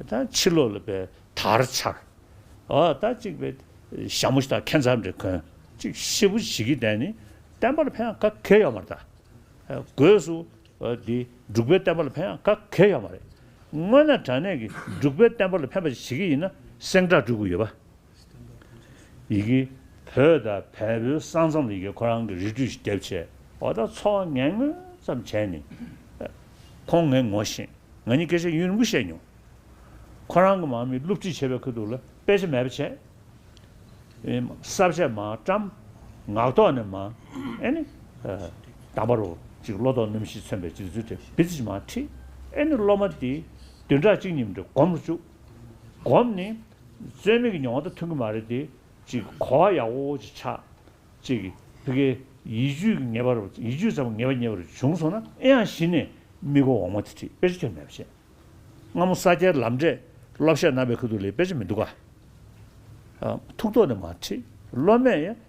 ད་ཕྱི་ལོ་ལ་པའི་དར་འཕྱར། ཨོ་ད་གཅིག་པའི་ཞྭ་མོ་ཞིག་དང་ཁན་ཚ་འདྲེ་གོན་གཅིག་གཤེ་བུ་བྱེད་ཀྱི་བསྡད་ནི་བསྟན་པ་ལ་ཕན་ག་གེ་ཡོད་མ་རེད་ད། སྒོས་སུ་འདི་འབྲུག་པའི་བསྟན་པ་ལ་ཕན་ག་གེ་ཡོད་མ་རེད། དངོས་ན་དྲ་གནས་ཀྱིས་འབྲུག་པའི་བསྟན་པ་ལ་ཕན་པ་ཞིག་བྱེད་ཀྱི་ཡིན་ན་སེང་སྒྲ་སྒྲོས་དགོས་ཡོད་པ་ཡི་གེ། བོད་དང་བལ་པོའི་ས་མཚམས་ལ་ཡི་གེ་ཁོ་རང་གི་རིས་བྲིས་ཤིག་རྒྱབ་བྱས། འོ་ད་འཚོ་བ་ངན་ངོན་ཙམ་བྱས་ནས། ཁོང་ངའི་ངོ་ཤེས། ང་གཉིས་སྐད་ཆ་ཡུན་རིང་པོ་བཤད་མྱོང། ཁོ་རང་གི་མང་མི་བསླུ་བྲིད་བྱེད་པའི་ཁུལ་འདུག་ལ་དཔེ་ཆ་མེད་པ་བྱས། གསར་བྱས་མ་བཀྲམ། ངག་ཐོག་ནས་མ། ཨེ་ནི། དང་པ་རུ། ཅིག་བློ་དོགས་རྣམ་བཞི་མཚོན་པའི་སྤྱོད་ཚུལ་དེ་འབི་ཚུལ་གྱིས་མ་བྲིས། ཨེ་ནི་སློབ་མ་དེའི་བདུན་ཕྲག་གཅིག་གཉིས་མི་འགྲོ་སྒོམ་རུ་བཅུག། སྒོམ་ནི། རྩོལ་མེད་ཀྱི་མྱོང་བ་དང་མཐུན་གྱི་མ་རེད་དེ། གཅིག་གོ་བ་ཡག་པོ་ཅིག་ཆགས། གཅིག་བི་ཀའི་ཡིད་དཔྱོད་ཀྱི་ངེས་པ་རུ་ཡིད་དཔྱོད་ཙམ་གྱི་ངེས་པ་ཉེ་བར་བྱུང་སོང་ན་ཨེ་ཡང་གཞི་ནས་དམིགས་སྒོ་འོག་མ་དེ་ཁྲིད་དཔེ་ཆ་ཁྱོན་མེད་པ་བྱེད། སྔ་མོ་ས་སྐྱའི་ལམ་འབྲས་སློབ་གཞས་རྣམ་པའི་ཁུལ་དུ་ལས་དཔེ་ཆ་མི་འདུག་ག། ཐུགས་དོགས་ནས་མ་ཁྲིད་སློབ་མས་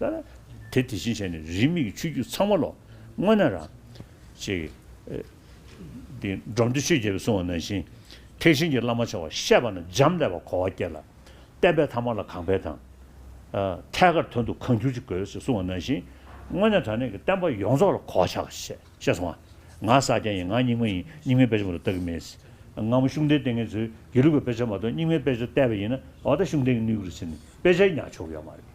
ལྟར། དེ་དེ་བཞིན་བྱས་ནས་རིས་མེད་ཀྱི་ཆོས་བརྒྱུད་ཚང་མ་ལོ། སྔོན་ན་རང། ཅེས། འདི་འབྲོམ་སྟོད་ཆོས་རྒྱལ་པོས་གསུང་བ་ནང་བཞིན། ཐེག་ཆེན་གྱི་བླ་མ་ཆེ་བ་བཤད་པ་ན་འབྱམས་ཀླས་པ་གོ་བ་སྐྱེ་ལ། བསྟན་པའི་ཐ་མ་ལ་གང་འཕེལ་དང། ཐད་ཀར་དོན་དུ་གང་འགྱུར་ཅི་དགོས་ཞེས་གསུང་བ་ནང་བཞིན། སྔོན་ནས་དྲང་གནས་ཀྱི་བསྟན་པ་ཡོངས་རྫོགས་ལ་གོ་བ་ཆགས་པར་བཤད་བཤད་སོང་བ། ང་ས་སྐྱ་ཡིན་ང་རྙིང་མ་ཡིན་རྙིང་མའི་དཔེ་ཆ་མ་གཏོགས་བལྟ་གི་མེད། སྔ་མོ་ཤུགས་ལྡན་ལྟས་ངན་ཚོས་དགེ་ལུགས་པའི་དཔེ་ཆ་མ་གཏོགས་རྙིང་མའི་དཔེ་ཆ་བལྟས་པ་ཡིན་ན་འོ་ད་ཤུགས་ལྡན་གྱི་གནས་ཁུལ་ལ་ཕྱིན་ནས་དཔེ་ཆའི་ཉག་ཆོག་གི་ཡོད་མ་རེད།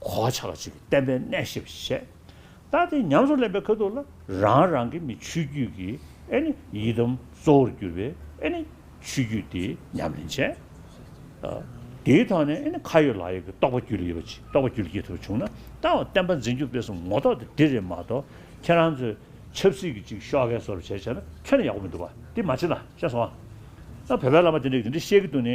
གོ་ཆ་ལ་ཆུ་བོའི་བསྟན་པའི་གནས་ཞེས་པ་ཞིག་བཤད། རྟགས་དེ་ཉམས་སུ་ལེན་པའི་ཁ་ཐུག་ལ་རང་རང་གི་ནི་ཆོས་བརྒྱུད་ཀྱི་ཨེ་ནི་ཡི་དམ་གཙོ་བོར་གྱུར་པའི་ཨེ་ནི་ཆོས་བརྒྱུད་དེའི་ཉམས་ལེན་བྱས། དེའི་ཐོག་ནས་ཨེ་ནི་ཁ་ཡོད་ལག་ཡོད་ཀྱི་རྟོགས་པ་རྒྱུད་ལ་ཡོད་པ་ཅིག་རྟོགས་པ་རྒྱུད་ལ་སྐྱེ་ཐུབ་པ་བྱུང་ན་རྟགས་བ་བསྟན་པ་འཛིན་རྒྱུ་དཔེ་གསུམ་ངོ་ཐོག་ཏུ་འདི་རེད་མ་གཏོགས་ཁྱེད་རང་ཚོས་ཆབ་སྲིད་ཀྱི་ཅིག་ཤོག་ཁའི་སོར་བྱས་བྱས་ན་ཁྱོན་ཡག་པོ་མི་འདུག་བ་དེ་མ་བྱེད་ན་ཤེས་སོང་ཨ། བོད་པའི་བླ་མ་དེ་འདྲས་ཀྱིས་འདི་འདྲས་བཤད་ཀྱི་འདུག་ནི།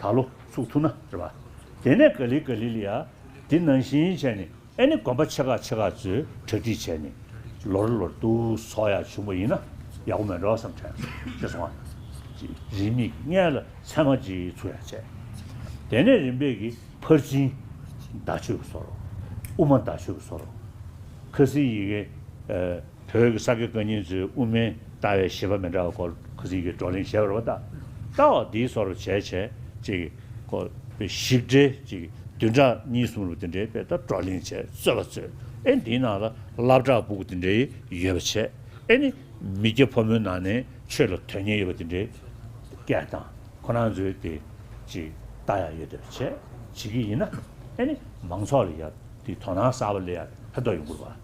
ད་ལོ་ཚུགས་ཐུབ་ན་རེད་བ། དེ་ནས་ག་ལི་ག་ལི་ལི་ཡ། དེ་ནང་བཞིན་བྱས་ནས་ཨེ་ནི་དགོན་པ་ཆེ་ཁག་ཆེ་ཁག་ཚོས་གྲ་སྒྲིག་བྱས་ནས། ལོར་ལོར་དུ་ཚོགས་ཡག་བྱུང་པ་ཡིན་ན་ཡག་པོ་མེད་འགྲོ་བསམ་དྲན་ཅེས་སོང་བ། རིས་མེད་ཀྱི་མངལ་ལ་མཚན་མ་གཅིག་ཚུགས་ཡག་བྱས། དེ་ནས་རིམ་པས་ཀྱི་ཕར་ཕྱིན། བརྡ་ཆོས་ཀྱི་སོར། དབུ་མ་བརྡ་ཆོས་ཀྱི་སོར། ཁ་སིའི་ཡི་གེ། བོད་ཀྱི་ས་དགེ་བཀའ་རྙིང་ཚོའི་དབུ་མའི་ལྟ་བའི་བཞེད་པ་མི་འདྲ་བ་སྐོར་གུས་བརྩི་གྱིས་བགྲོ་གླེང་བྱས་པར་བ་ལྟ་བ་འདིའི་སོར་བྱས་བྱས་གཅིག་གི་སྐོར་པའི་ཞིབ་འགྲེལ་གཅིག་བདུན་ཕྲག་གཉིས་གསུམ་ལོ་དེ་འདྲའི་དཔེ་ལྟར་བགྲོ་གླེང་བྱས་རྩོད་པ་རྩོད་ཨེ་འདིའི་ནང་ལ་བསླབ་བྲག་སྦུག་དེ་འདྲའི་ཡོད་པ་བྱས་ཨེ་ནི་མི་སྐྱ་ཕོ་མོའི་ནང་ནས་ཆོས་ལ་དོན་གཉེར་ཡོད་པ་དེ་འདྲའི་སྐད་གདངས་ཁོ་ན་ཚོའི་དེ་གཅིག་ལྟ་ཡག་ཡོད་དོད་བྱས་བྱེད་ཀྱི་ཡིན་ན་ཨེ་ནི་མང་ཚོགས་ལ་ཡག་དེའི་དོ་སྣང་གསར་བ་ལས་ཡག་ལྷག་ཏུ་ཡོང་དགོས་པ།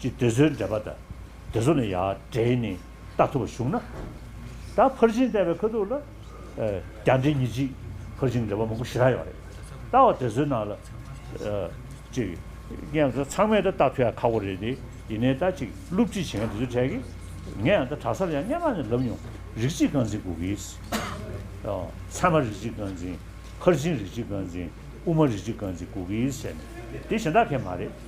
ཅེས་དེ་ཚོའི་འགྲེལ་པ་དང་དེ་ཚོ་ལ་ཡང་འབྲེལ་ནས་བལྟ་ཐུབ་པ་བྱུང་ན། ད་ཕར་ཕྱིན་བལྟས་པའི་ཁ་ཐུག་ལ། རྒྱ་འགྲེལ་ཉིས་གཅིག་ཕར་ཕྱིན་འགྲེལ་པ་མང་པོ་ཞེ་དྲག་ཡོད་པ་རེད། བལྟ་བ་དེ་ཚོའི་ནང་ལ། གཅིག། ངས་ད་ཚང་མས་ད་བལྟ་ཐུབ་ཡག་ཁག་པོ་རེད་དེ། ཡིན་ནའི་ད་གཅིག་སློབ་ཁྲིད་བྱེད་མཁན་དེ་ཚོའི་གྲས་ཀྱིས། ངས་ཡང་ད་གྲྭ་སར་ཡང་སྙན་མར་ནས་ལབ་མྱོང། རིགས་གཅིག་རྐང་འཛིན་གུ་གེས། ཚད་མ་རིགས་གཅིག་རྐང་འཛིན། ཕར་ཕྱིན་རིགས་གཅིག་རྐང་འཛིན། དབུ་མ་རིགས་གཅིག་རྐང་འཛིན་གུ་གེས་བྱས་ནས། དེ་གཞན་དག་གས་མ་རེད།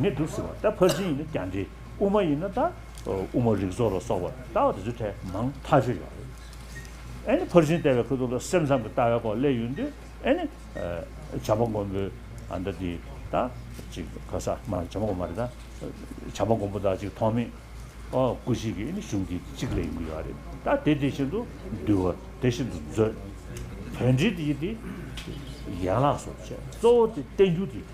ནི་སྒྲུབ་ཟིན་བ་ལྟ་ཕར་ཕྱིན་ཡིན་ན་ཀྱང་འགྲེ་དབུ་མ་ཡིན་ན་ལྟ་དབུ་མ་རིག་བཟོ་ལ་སོགས་པ་ལྟ་བ་དེ་ཚོའི་གྲས་མང་མཐའ་ཆོད་ཡོད་རེད། ཨེ་ནི་ཕར་ཕྱིན་ལྟ་བའི་ཁུལ་དུ་ལ་སེམས་ཙམ་གྱི་ལྟ་བའི་སྐོར་གླས་ཡོད་དུས་ཨེ་ནི། བྱམས་པ་མགོན་པོའི་ཨ་མདའ་དེ་ད་ཅིག་ག་ས་མ་བྱམས་པ་མགོན་པོ་རེད་ད། བྱམས་པ་མགོན་པོ་ད་ཅིག་ཐོག་མེད། སྐུ་གཅིག་གིས་ཨེ་ནི་གཞུང་དེ་གཅིག་གླས་ཡིན་གྱི་ཡོད་རེད་ད་དེ་དེ་བཞིན་དུ་འདུལ་བ་དེ་བཞིན་དུ་མཛོད། དོན་འགྲེལ་དེ་ཡི་དེ་ཡན་ལག་སོགས་བྱས་གཙོ་བོ་དེ་བསྟན་འགྱུར་དེ།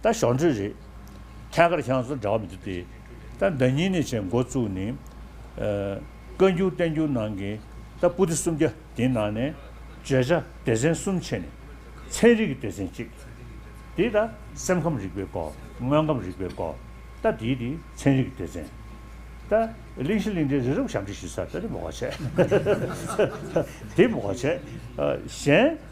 ད་གཞོགས་འདྲིས་རེད། ཐད་ཀར་ཤང་སོ་འདྲ་བ་འདི་སྟེ། ད་ཟླ་གཉིས་ནས་བྱས་འགོ་བཙུགས་ནས། བཀའ་འགྱུར་བསྟན་འགྱུར་ནང་གི་ད་སྤུ་ཏི་སུམ་བརྒྱ་དེ་ནང་ནས། བརྗོད་བྱ་སྡེ་ཚན་གསུམ་ཕྱེ་ནས། ཚན་རིག་གི་སྡེ་ཚན་གཅིག། དེ་ད་སེམས་ཁམས་རིག་པའི་སྐོར། དངོས་ཁམས་རིག་པའི་སྐོར། ད་དེའི་དེ་ཚན་རིག་གི་སྡེ་ཚན། ད་གླིང་བཞི་གླིང་ཕྲན་རི་རབ་ཞབས་འདྲི་ཞུ་ས་ད་དེ་མགོ་བར་བྱས། དེ་མགོ་བར་བྱས། གཞན།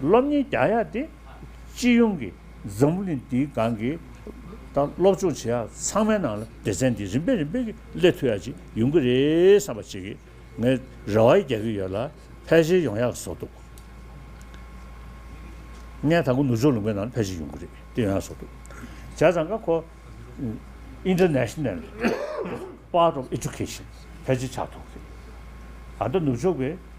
སློབ་གཉེར་རྒྱག་ཡ་དེ་སྤྱི་ཡོངས་ཀྱི་འཛམ་བུ་གླིང་འདིའི་སྒང་གི་དང་སློབ་སྦྱོང་བྱེད་ཡ་ཚང་མའི་ནང་ལ་སྡེ་ཚན་འདི་རིམ་པས་རིམ་པས་ཀྱི་སླེབས་ཐུབ་ཡ་ཅིག་ཡོང་གི་རེད་བསམ་པ་ཅིག་ངས་རེ་བ་རྒྱག་གི་ཡོད་ལ་ཕལ་ཆེར་ཡོང་ཡ་བཟོ་འདུག་ངས་ད་གུ་ནུ་ཇོ་ལུང་པའི་ནང་ལ་ཕལ་ཆེར་ཡོང་གི་རེད་དེ་ཡོང་ཡ་བཟོ་འདུག་བྱས་ཙང་ཀ་ཁོ། International Part of Education ཕལ་ཆེར་ཆགས་ཐུབ་གི་རེད་ད་ལྟ་ནུབ་ཕྱོགས་པའི།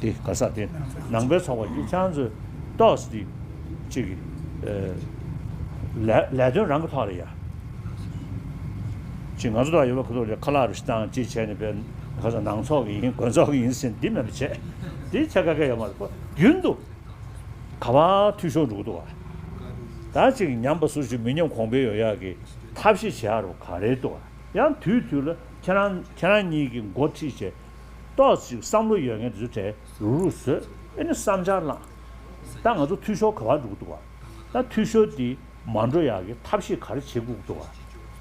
དེ་ག་ས་དེ་ནང་པའི་ཚོགས་པ་གཅིག་ཆང་མཛོད་ཏོག་སི་གཅིག་གི་ལས་དོན་རང་གི་ཐོག་ལ་ཡ་གཅིག་ང་ཚོ་ལ་ཡོད་པ་ཁོ་ཚོ་ལས་ཁ་ལག་རི་སྤྱི་བཏང་གཅིག་བྱས་ནས་པའི་ཁ་ས་ནང་ཚོགས་ཀྱི་ཡིན་དགོན་ཚོགས་ཀྱི་ཡིན་ཟེར་འདི་མེད་པ་བྱས་དེ་ཆ་ག་ག་ཡོད་མ་རེད་རྒྱུན་དུ་ག་བ་འཐུས་ཤོར་འགྲོ་གི་འདུག་བ་ད་གཅིག་ཉམས་པ་ཟུར་ཞིག་མི་ཉམས་གོང་འཕེལ་ཡོང་ཡག་གི་ཐབས་ཤེས་བྱས་ཡག་རོ་ག་རེད་འདུག་བ་ཡང་དུས་དུས་ལ་ཁྱེད་རང་ཁྱེད་རང་གཉིས་ཀྱི་འགོ་ཁྲིད་བྱས། ཏོག་ཅིག་བསམ་བློ་ཡོད་མཁན་དེ་ཚོས་གྲལ་རུག་རུག་བཟོས་ཨེ་ནི་བསམ་འཆར་བླངས། ད་ང་ཚོ་འཐུས་ཤོར་ག་བར་འགྲོ་གི་འདུག་བ། ད་འཐུས་ཤོར་དེ་མ་འགྲོ་ཡག་གི་ཐབས་ཤེས་ག་རེ་བྱེད་དགོས་ཀྱི་འདུག་བ།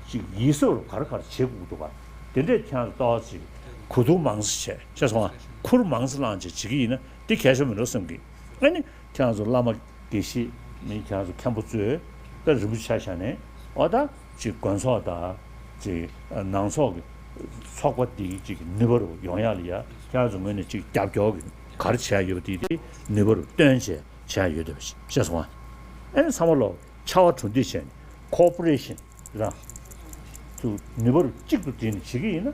ཅིག་ཡིད་གཟབ་རུ་ག་རེ་ག་རེ་བྱེད་དགོས་ཀྱི་འདུག་བ། དེ་འདྲས་ཁྱོད་ཚོ་ཏོག་ཅིག་གོ་བསྡུར་མང་སེ་བྱས་ཤེས་སོང་ང་ཁུར་མང་སེ་བླངས་བྱས་བྱེད་ཀྱི་ཡིན་ན་དེ་གལ་ཆོ་མི་འགྲོ་སེམས་ཀྱི་ཨེ་ནི་ཁྱོད་ཚོ་བླ་མ་དགེ་བཤེས་མིན་ཁྱོད་ཚོ་མཁན་པོ་གཙོས་པའི་རིན་པོ་ཆ་ཞང་ནས་བ་ད། ཅིག་དགོན་ཚོགས་དང། ཅིག་ནང་ཚོགས་ཀྱི། ཚོགས་པ་འདི་ཅིག་ནུས་པ་རུ་ཡོང་ཡག་ལ་ཡ་ཤར་དུ་ངོས་ནས་ཅིག་རྒྱབ་སྐྱོར་གྱི་གར་བྱས་ཡོད་པ་དེ་དེ་ནུས་པ་རུ་སྟོན་བྱས་བྱས་ཡོད་དེ་བཤད་སོང་ཨ། ཨེ་ཚང་མ་ལོག་ཕྱ་བ་གྲུ་འདེགས་བྱས་ནས Cooperation རང། ཚུགས་ནུས་པ་རུ་གཅིག་ཏུ་བསྒྲིལ་ནས་བྱེད་ཀྱི་ཡིན་ན།